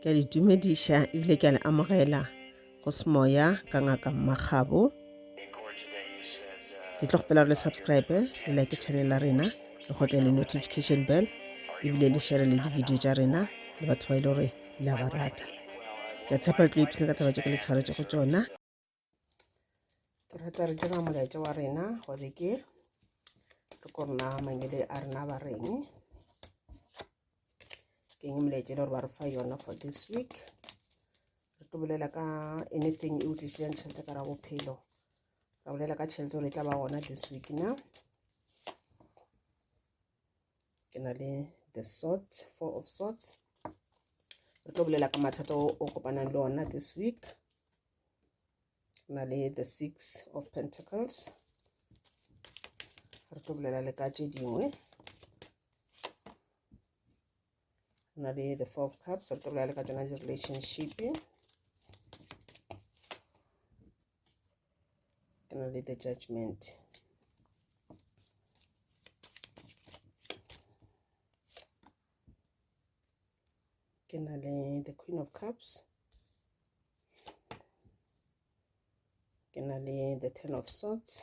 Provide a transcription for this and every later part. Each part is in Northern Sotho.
ke a le dumediša ebile ke a le amogela go semoya ka ngaka mmakgabo ke tlo kgopela gore le subscribe le like channel la rena le gotle le notification bell ebile le share le di-video tša rena le batho ba e le gore le a ba rata ke a tshepa le tlo ipshina ka taba tše ke le tshwaretse go tsona ke rata re tsena molaetša wa rena gore ke re ko rena mangele a rena ba reng ke eng molaetša e le gore ba re fa yona for this week re tlo bolela ka anything e utlwisitseng tšhelete ka ra bophelo ra bolela ka tšhelete gore e tla ba gona this week na ke na le the sort four of sorts re tlo bolela ka mathata o kopanang le ona this week na le the six of pentacles re tlo bolela le ka tše dingwe na le the four of cups re tlo bolela le ka tsona di-relationship ke na le the judgment ke na le the queen of cups ke na le the ten of swords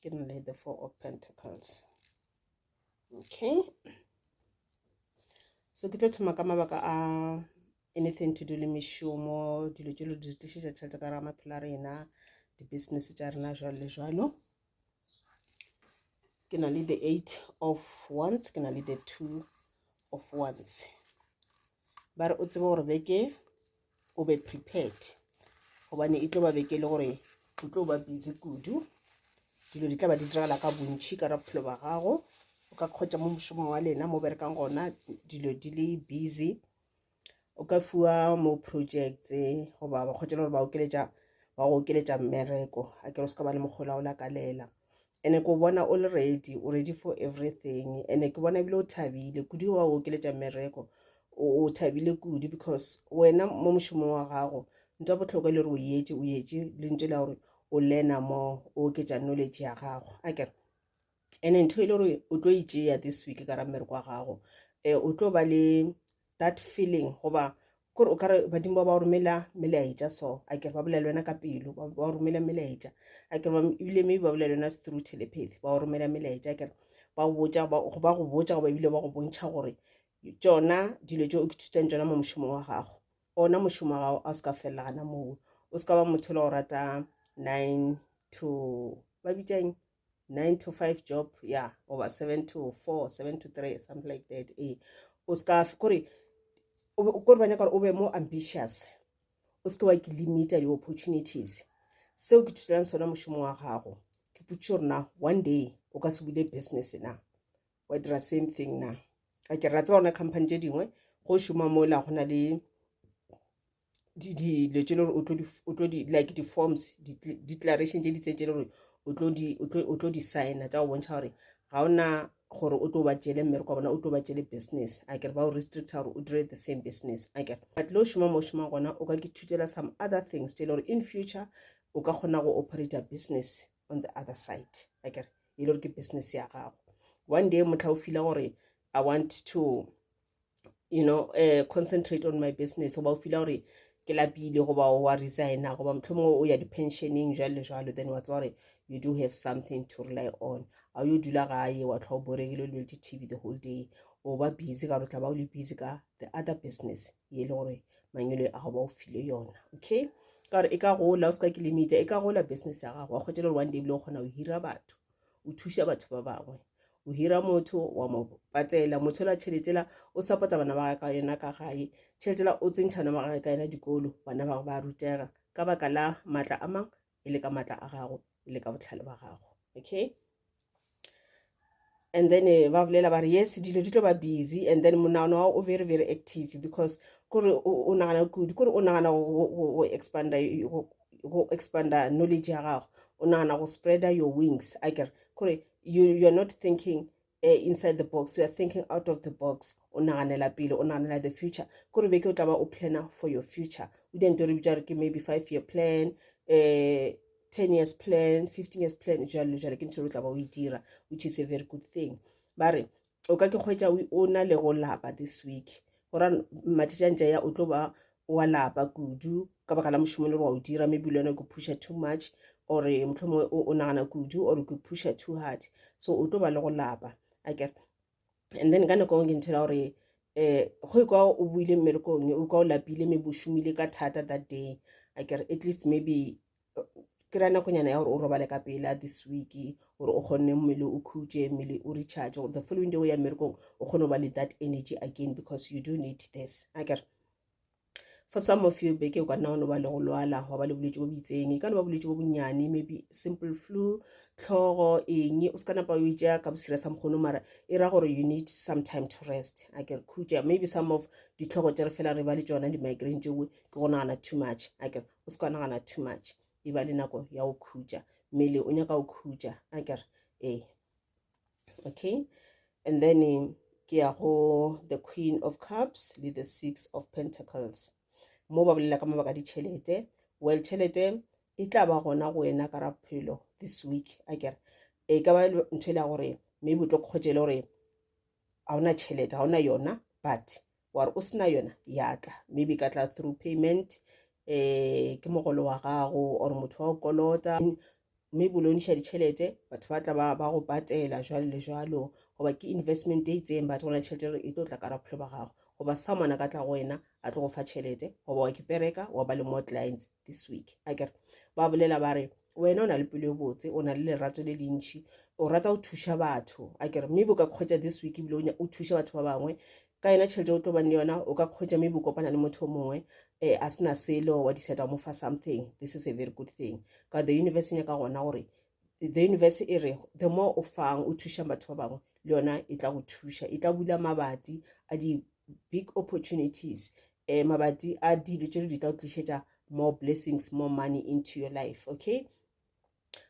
ke na le the four of pentacles okay so ke tlo thoma ka mabaka a anything to do le mešomo dilo tse lo di re tlišetša tšhelete ka raga maphelo a rena di-business tša rena jalo le jalo ke na le the eight of ones ke na le the two of ones ba re o tsebe gore beke o be prepared gobane e tlo ba beke le gore o tlo ba busy kudu dilo di tla ba di diragala ka bontšhi ka ra bophelo ba gago o ka kgotsa mo mošomong wa lena mo berekang gona dilo di le busy o ka fiwa mo projects goba ba kgotsa le gore ba okeletša ba go okeletša mmereko a kere o se ka ba le mokgola o lakalela ene ke o bona o le ready o ready for everything ene ke bona ebile o thabile kudu wa o okeletša mmereko o thabile kudu because wena mo mošomong wa gago nto ya botlhokwa e le gore o yetše o yetše lentso la gore o learna mo o oketša knowledge ya gago a kere ene ntho e le gore o tlo itšea this week ka ra mmereko wa gago um o tlo ba le that feeling goba kore o kare badimo ba ba romela melaetša so a kere ba bolela wena ka pelo ba ba romela melaetša a kere ebile maybe ba bolela wena through telepathy ba romela melaetša a kere ba go botša ba go botša goba ebile ba go bontšha gore tšona dilo tse o ke thutang tšona mo mošomong wa gago ona mošomo wa gago a o se ka felela gana moo o se ka ba motho le go rata nine to ba bitsang nine to five job ya oba seven to four seven to three something like that e o seka kore kore ba nyaka gore o be more ambitious o seke wa ke limita di-opportunities seo ke thuselang sona mošomo wa gago ke putse gore na one day o ka se bule business na wa dira same thing na a ke ra tseba gona company tse dingwe go šoma mo la go na le dilo tse le gore o tlo di like di-forms declaration tse di tse tse le gore o tlo di signa tsa go bontšha gore ga o na gore o tlo ba tšele mmereko wa bona o tlo ba tšele business a kere ba o restricta gore o dire the same business a kere but le o šoma mo o šomang gona o ka ke thutela some other things tse le gore in future o ka kgona go operator business on the other side a kere e le gore ke business ya gago one day motlha o fila gore i want to you know uh, concentrate on my business goba o fila gore ke lapile goba wa resigna goba motlho mongwe o ya di-pensioning jalo le jalo then wa tseba gore you do have something to rely on a yo dula gae wa tlhwa o boregile o lebeletse tv the whole day o ba busy ka gore tla ba o le busy ka the other business ye e le gore mangelo a go ba o file yona okay ka gore e ka gola o se ka kilometer e ka gola business ya gago wa kgwetele gore one day bile o kgona go hira batho o thuša batho ba bangwe o hira motho wa mo patela motho la tšhelete la o sapota bana ba ka yona ka gae tšhelete la o tsentšhana ba gage ka yona dikolo bana ba ba rutega ka baka la matla a mang e le ka matla a gago e le ka botlhale ba gago okay and then eh, ba bolela ba re yes dilo di tlo ba busy and then monagano wa o very very active because kore o nagana kudu kore o nagana go expanda go expanda knowledge ya gago o nagana go spreader your wings a kere kore you, you're not thinking uh, inside the box you are thinking out of the box o naganela pele o naganela the future kore be ke o tla ba o planner for your future o dira nto re bitsa gore ke maybe five year plan uh, 10 years plan 15 years plan jalo jalo ke ntho re tla ba o e dira which is a very good thing ba re o ka ke kgwetša o na le go lapa this week gora matšetšantša ya o tlo ba wa lapa kudu ka baka la mošomo le gore wa o dira maybe le yone ke pusha too much or motlho mongwe o nagana kudu or ke pusha too hard so o tlo ba le go lapa aker and then ka nako ke nthela gore um go e kwa o buile mmerekong o kwa o lapile maybe o šomile ka thata that day aker at least maybe ke ra nakonyana ya gore o robale ka pela this week gore o kgonne mmele o khutše mmele o recharge the following day o ya mmerekong o kgone go ba le that energy again because you do need this akere for some of you beke o ka nna wa no ba le go lwala wa ba le bolwetse bo bitseng e ka no ba bolwetse bo bonnyane maybe simple flu tlhogo eng o se ka napa o ija ka bosira sa mokgono mara e ra gore you need some time to rest a kere khutša maybe some of ditlhogo tse re fela re ba le tsona di-migraine tšeo ke go nagana too much a kere o se ka nagana too much e ba le nako ya go khutša mmele o nyaka go khutša a kere ee okay and then eh, ke ya go the queen of cups le the six of pentacles mo ba bolela ka mabaka ditšhelete well tšhelete e tla ba gona go wena ka raphelo this week a kere e ka ba ntho e le ya gore maybe o tlo kgotšele gore ga ona tšhelete ga ona yona but wa re o sena yona ya tla maybe ka tla through payment um ke mogolo wa gago or motho wa go kolota mme boloniša ditšhelete batho ba tla ba go patela jwalo le jwalo goba ke investment e itseng batho gona tšhelete re e tlo tla kara bophelo ba gago goba someone a ka tla go wena a tlo go fa tšhelete goba wa ke pereka wa ba le more clients this week a kere ba bolela ba re wena o na le pelo e botse o na le lerato le le ntšhi o rata go thuša batho a kere maybe o ka kgwetsa this week ebile o thuša batho ba bangwe ka yona tšhelete o tlo bane le yona o ka kgwetsa maybe o kopana le motho o mongwe um a sena selo wa decide wa mo fa something this is a very good thing ka the universe e nyaka gona gore the universe e re the more o fang o thušang batho ba bangwe le yona e tla go thuša e tla bula mabati a di-big opportunities eh, mabati a dilo tše di tla o tlišetša more blessings more money into your life okay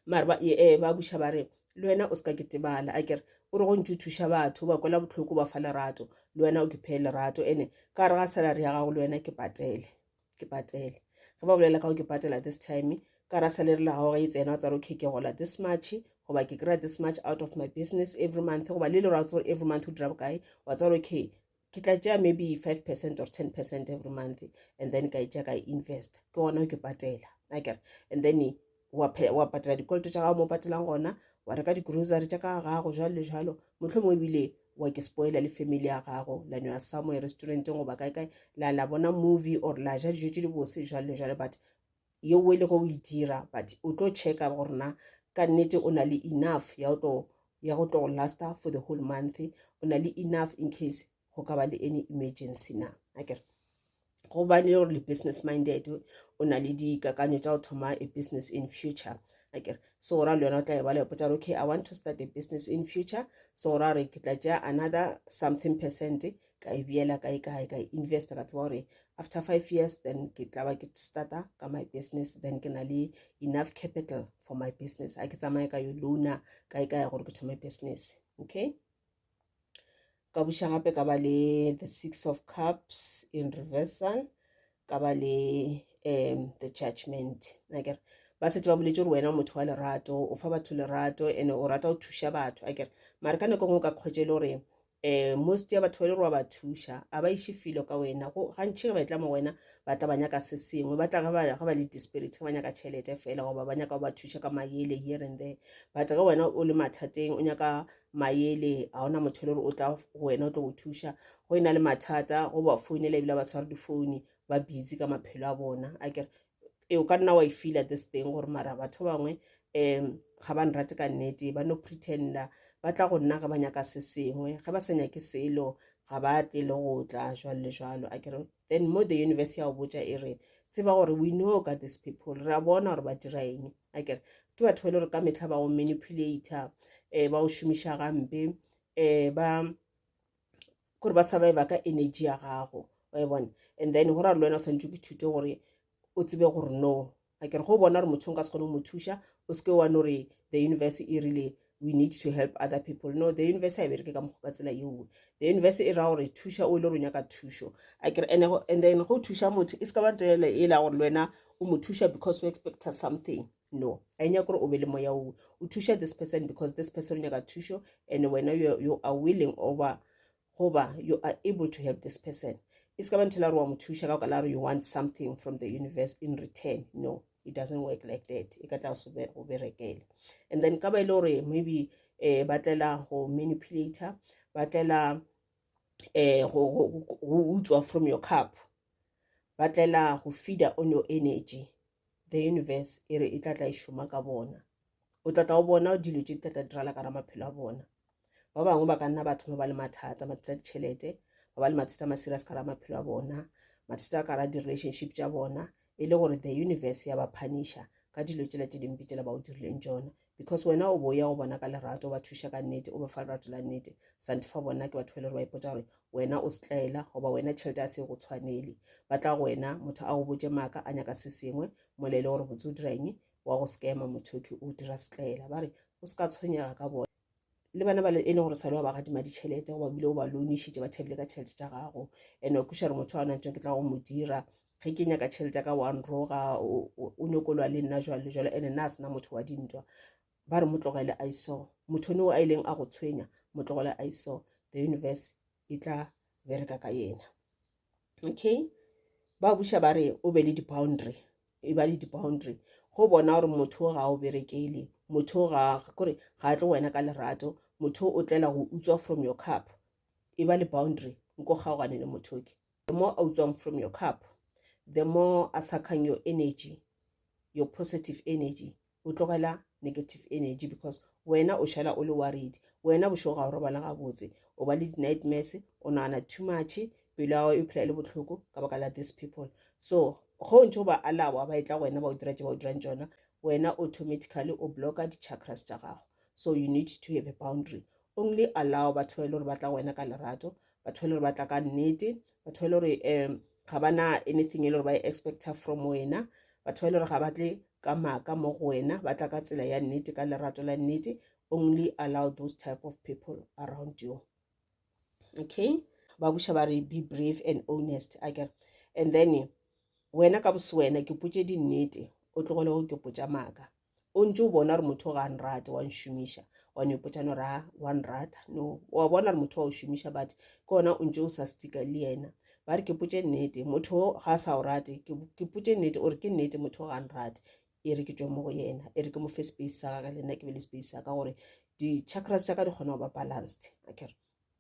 mare ba eh, ba buša ba re le wena o se ka ketebala a kere o re go ntse o thuša batho ba kwela botlhoko ba fa lerato le wena o ke phee lerato ene ka re ga salary ya gago le wena ke patele ke patele ge ba bolela ka go ke patela this time ka ra salary la gago ge e tsena o tsare o keke gola this much goba ke kry-a this much out of my business every month goba le le ra tsebore every month o dira bokae wa tsebore okay ke tla tšea maybe five percent or ten percent every month and then ka e tšea ka e invest ke gona ke patela akere and then wa patela dikoloto tša gago mo patelang gona wa reka di-grocery tša ka gago jalo le jalo motlho mongwe ebile wa ke spoiler le family ya gago la nwa somewhere restauranteng goba kae kae la la bona movie or la ja dijo tše di bose jalo le jalo but yeo e lego o e dira but o tlo checka gore na ka nnete o na le enough ya go tlo ya go tlo lasta for the whole month o na le enough in case go ka ba le any emergency na a kere go ba le gore le business minded o na le dikakanyo tsa go thoma a business in future a kere so ora le yona o tla e ba le potsa okay i want to start a business in future so ora re ke tla tšea another something percent ka e beela kae kae ka investa ka tseba gore after five years then ke tla ba ke starta ka my business then ke na le enough capital for my business a ke tsamaye ka yo loana kae kae gore ke thome business okay ka buša gape ka ba le the six of cups in reversal ka ba le um the judgment akere ba setse ba boletse gore wena o motho wa lerato o fa batho lerato and-e o rata go thuša batho akere mare ka nako e nngwe o ka kgwetse e le gore eh, most ya batho ba le roa ba thuša a ba iše filo ka wena go gantšhi ge ba etla mo wena ba tla ba nyaka se sengwe ba tla ge ba le disperit ge ba nyaka tšhelete fela goba ba nyaka go ba thuša ka mayele here and there but ge wena o le mathateng o nyaka mayele ga ona motho le gore o tla go wena o tlo go thuša go e na le mathata go ba founela ebile ba tshware difoune ba busy ka maphelo a bona a kere e o ka nna wa e feela this thing gore mara batho ba bangwe um ga ba nrate ka nnete ba no pretender ba tla go nna ga ba nyaka se sengwe ga ba sa nyake selo ga ba tle le go tla jwalo le jwalo a kere then mo the universe ya go botja e re tseba gore we know ka this people re a bona gore ba dira eng a kere ke batho ba e le gore ka metlha ba go manipulator um ba go šomiša gampe um ba gore ba surviva ka energy ya gago wa e bona and then go ra le wena o swantse ke thute gore o tsebe gore no a kere go bona gore motho nka se kgone go mo thuša o seke wa no re the universe e rile we need to help other people no the universe a e bereke ka mokgo ka tsela yeoe the universe e ra gore thuša o e le gore o nyaka thušo a kere and then go thuša motho e se ka ba nto ele e la gore le wena o mo thuša because o expecta something no a nyaka gore o be le moya o o thuša this person because this person o nyaka thušo and wena you are willing over goba you are able to help this person e se ka bantho la gore wa mo thuša ka kala gore you want something from the universe in return no it doesn't work like that e ka tla go berekele and then ka ba e le gore maybe um ba tlela go manipulator ba tlela um go utswa from your cup ba tlela go fida o no energy the universe e re e tla tla e šoma ka bona o tla tla o bona o dilo tše di tla tla dirala ka ra maphelo a bona ba bangwe ba ka nna ba thoma ba le mathata mathata a ditšhelete ba ba le mathata a ma-serious ka ra maphelo a bona mathata a ka ra di-relationship tša bona e le gore the universe ya ba phanisha ka dilo tšela tše dimpe tšela ba o dirileng tšona because wena o bo ya go bona ka lerato o ba thuša ka nnete o ba fa lerato la nnete sante fa bona ke batho ba e le gore ba ipotsa gore wena o setlaela goba wena tšhelete a se go tshwanele ba tla go wena motho a go botse maaka a nyaka se sengwe mola e le gore botse o dira eng wa go scama mothoki o dira setlaela ba re o se ka tshwenyega ka bona le bana bale e le gore sale wa ba gadima ditšhelete goba bile o ba loanišitše ba thabile ka tšhelete tša gago and wa kuša re motho wa nantšong ke tla go mo dira ge ke nyaka tšhelete ya ka wa nroga o nyokolwa le nna jwale jwale and nna a sena motho wa dintwa ba re motlogele a iso motho ne o a ileng a go tshwenya motlogele a iso the universe e tla bereka ka yena okay ba buša ba re o be le di-boundary e ba le di-boundary go bona gore motho o ga o berekele motho o ga kore ga a tlo wena ka lerato motho o tlela go utswa from your cup e ba le boundary nko kgaogane le motho ke the more a utswang from your cup the more a suckang your energy your positive energy o tlogela negative energy because wena o šala o le worried wena bošego ga o robala gabotse o ba le di-nightmares o nagana too much pelo ya gago e phela e le botlhoko ka baka la these people so go o ntse o ba alawa ba e tla go wena ba o dira tse ba o dirang tsona wena automatically o blocka di-chakras tša gago so you need to have a boundary only allow batho ba e le gore ba tla go wena ka lerato batho ba e le gore ba tla ka nnete batho ba e le gore um ga ba na anything e le gore ba e expecta from wena batho ba e le gore ga ba tle ka maaka mo go wena ba tla ka tsela ya nnete ka lerato la nnete only allow those type of people around you okay ba buša ba re be brave and honest a kere and then wena ka bosewena ke potse dinnete o tlogole go ke potsa maaka o ntse o bona gore motho ga a nrate wa nšomiša wa nyopotsa no ra wa nrata no wa bona gore motho wa o šomiša but ke ona o ntse o sa stika le yena ba re ke potse nnete motho ga a sa o rate ke potse nnete ore ke nnete motho ga a nrate e re ke tswe mo go yena e re ke mo fe space sa ka le nna ke be le space sa ka gore di-chakras tša ka di kgona go ba balanced akere okay.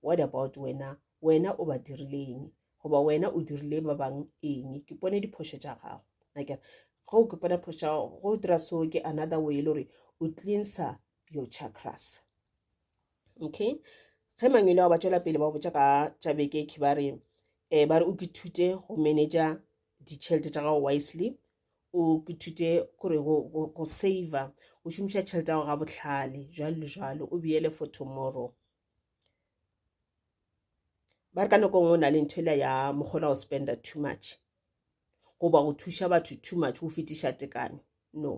What about wena? Wena o ba dirile eng? Goba wena o dirile ba bang eng? Ke pone diphošo tša gago. Nakere, ge o ke pone phošo tša gago, go dira so ke another way e le gore o cleanser your chakras. Okay? Ge mangwele ao ba tšwela pele ba botša ka tša beke ke ba re, eh, ba re o ke thute go manager ditšhelete tša gago wisely o ke thute gore go saver o šomiša tšhelete yago ga botlhale jalo le jalo o beele for tomorrow ba re ka nako nngwe o na le ntho ela ya mogola go spenda too much goba go thuša batho too much go fetiša tekanyo no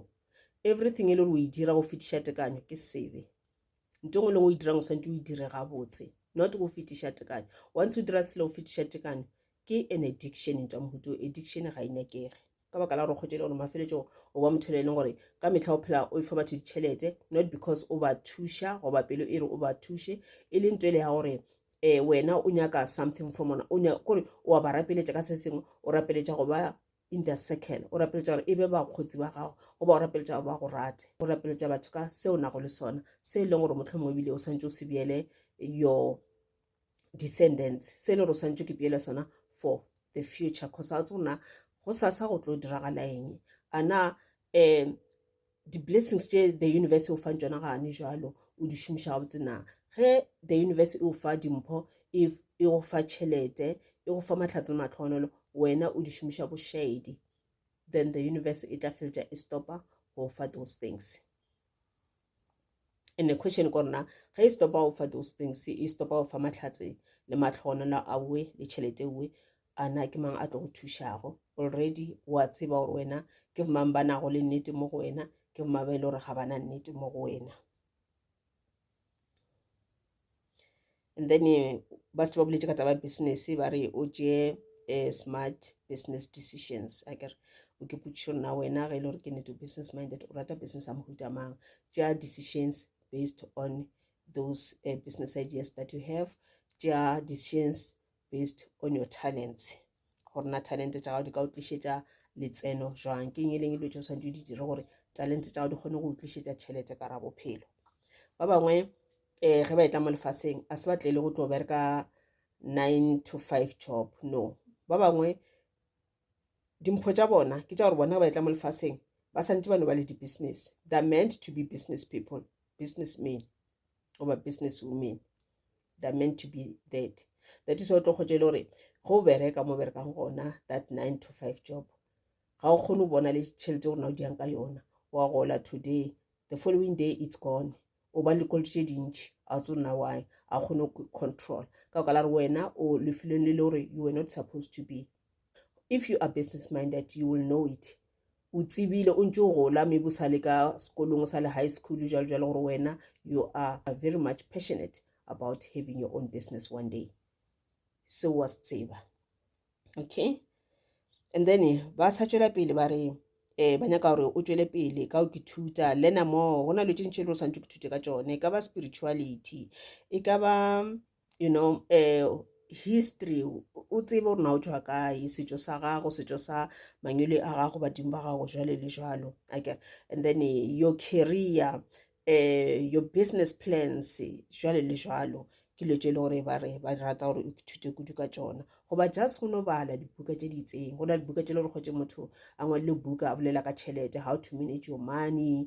everything e le gore o e dira go fetiša tekanyo ke sebe nto ngwe lengwe o e dirang o swantse o e dire gabotse not go fetiša tekanyo once o dira selo go fetiša tekanyo ke an addiction ntwa mohuto addiction ga e nyakege ka baka la gore kgwetšele gore mafeletšong o ba motho le e leng gore ka metlha o phela o efa batho ditšhelete not because o ba thuša goba pelo e re o ba thuše e leng to e le ya gore um wena o nyaka something from ona kore o a ba rapeletša ka se sengwe o rapeletša go ba in the circle o rapeletša gore e be bakgotsi ba gago goba o rapeletša gore ba go rate o rapeletša batho ka se o nago le sona se e leng gore motlho mongwe ebile o swantse o se beele your descendants se le gore swantse ke pele sona for the future cause a tse gona go sasa go tlo diragala eng a na um di-blessings tše the universe o fang tsona gane jalo o di šomiša gabotse na ge the universe e o fa dimpho e, e go fa tšhelete e go fa matlhatse le matlhogonolo wena o di šomiša bošaedi then the universe e tla feletša e stopa go fa those things and the question ko rona ge e stopa go fa those things e stopa go fa matlhatse le matlhogonelo a uwe le tšhelete uwe a na ke mang a tlo go thušago already wa tseba gore wena ke go mang ba nago le nnete mo go wena ke go mang ba e le gore ga bana nnete mo go wena and then eh, ba se ba boletse ka taba business ba re o tšee eh, smart business decisions a kere o ke potšišo nna wena ge e le gore ke neto business minded o rata business a mohuta mang tša decisions based on those uh, business ideas that you have tša decisions based on your talents gore na talente tša gago di ka o tlišetša letseno jwang ke eng e leng e lwetso santse o di dire gore talente tša gago di kgone go o tlišetša tšhelete ka ra bophelo ba bangwe um ge ba etla mo lefaseng a se batle e le go tlo bereka nine to five job no ba bangwe dimpho tša bona ke tša gore bona ba etla mo lefaseng ba santse ba no ba le di-business they're meant to be business people business men goba business women they're meant to be that that is why o tlo kgotse e le gore go bereka mo berekang gona that nine to five job ga o kgone go bona le tšhelete gore na o diyang ka yona wa gola today the following day it's gone o ba le kolto tše dintšhi a tse nna why a kgone go control ka o ka la re wena o lefelong le le gore you were not supposed to be If you are business minded, you will know it. O tsebile, o ntse o gola, maybe o sa le ka sekolong, o sa le high school, jalo jalo gore wena, you are very much passionate about having your own business one day. So was tseba. Okay? And then, eh, ba sa tšwela pele ba re, eh ba nyaka gore o tšwele pele ka o ke thuta learner more go na le tše ntši e le gore santse ke thute ka tsone e ka ba spirituality e ka ba you know um history o tsebe gore na o tswa kae setšo sa gago setšo sa mangwele a gago badimo ba gago jwale le jwalo ake and then eh, your career um your business plans jwale le jwalo ke lo tse le gore ba re ba rata gore o ithute kudu ka tsona goba just go no bala dibuka tse di itseng go na le dibuka tse le gore kgotse motho a ngwalele buka a bolela ka tšhelete how to manage your money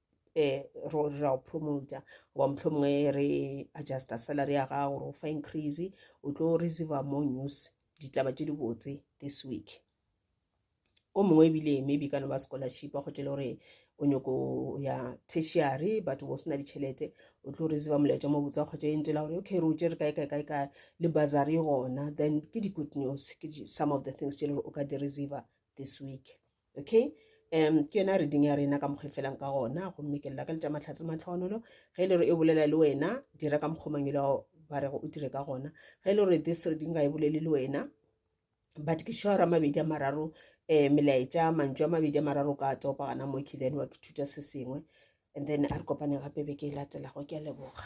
eh, ro ra o promoter goba mohlomongwe re adjusta salary ya gago gore o fa increase o tlo receiva more news ditaba tše di botse this week o mongwe ebile maybe ka no ba scholarship a kgotse le gore o nyoko ya tertiary batho bo sena ditšhelete o tlo receiva molaetša mo botse wa kgotse e ntela gore okay re o tšere kae kae kae kae le bazari gona then ke di-good news ke some of the things tše le gore o ka di receiva this week okay um ke yona reading ya rena ka mokgwa e felang ka gona gomme ke lela ka letša matlhatse matlhogonolo ge e le gore e bolela le wena dira ka mokgwa mangwele ao ba rego o dire ka gona ge e le gore this reading ga e bolele le wena but ke sure ra mabedi a mararo um melaetša mantšu a mabedi a mararo ka topa gana moki then wa ke thuta se sengwe and then a re kopane gape be ke e latelago ke a leboga